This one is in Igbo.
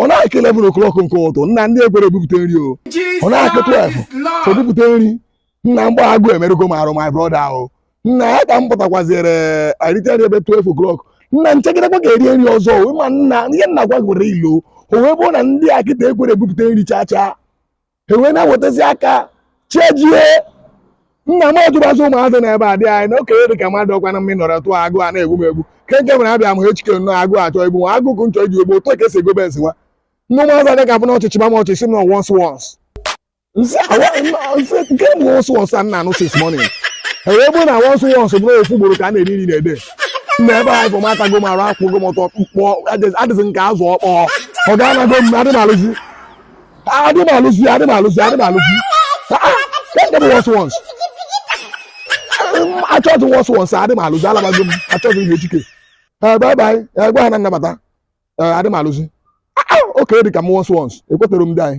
ọ na-akụ 11 o'clock nke ụtụtụ nna ndị a ekwero ebupụta nri o ọ na-akụ 12 ebupụta nri nna mgbe a agụụ emerụgo m arụ my brother ahụ nna ya ka m pụtakwazịrị arite nri ebe 12 o'clock nna m chegidekwa ka e rie nri ọzọ ma nna ihe nna gwa gwere ilo o wee bụrụ na ndị a kịta ekwero ebupụta nri chaa chaa ha wee na-ewetazi aka chi ejie nna m ajụbazi ụmụazị na ebe a dị anyị na okenye dị ka mmadụ ọkwa na mmiri nọrọ tụọ agụụ na-egbu m egbu ke nke mere abịa m ihe Chike nọ agụụ achọ igbu nwa agụkụ nchọ iji egbu otu ka e si ego Benz nwa nne ụmụazị adịghị afụ na ọchịchị ma m ọchịchị m nọ once once nke m once once a nna anụ six morning e wee bụrụ na once once bụrụ ofu ugboro ka a na-eri nri na a day na ebe anyị bụ m atago m arụ akwụgo m ọtọ mkpọ adịghị nke azụ ọkpọ ọga anago m adị m alụzi adị m alụzi adị m alụzi adị m alụzi nke bụ once once achọghịzi once once adị m alụzi alabago m achọghịzi ihe Chike bye bye gwa ha na nnabata adị m alụzi oke dị ka m once once ekwetaro m ndị anyị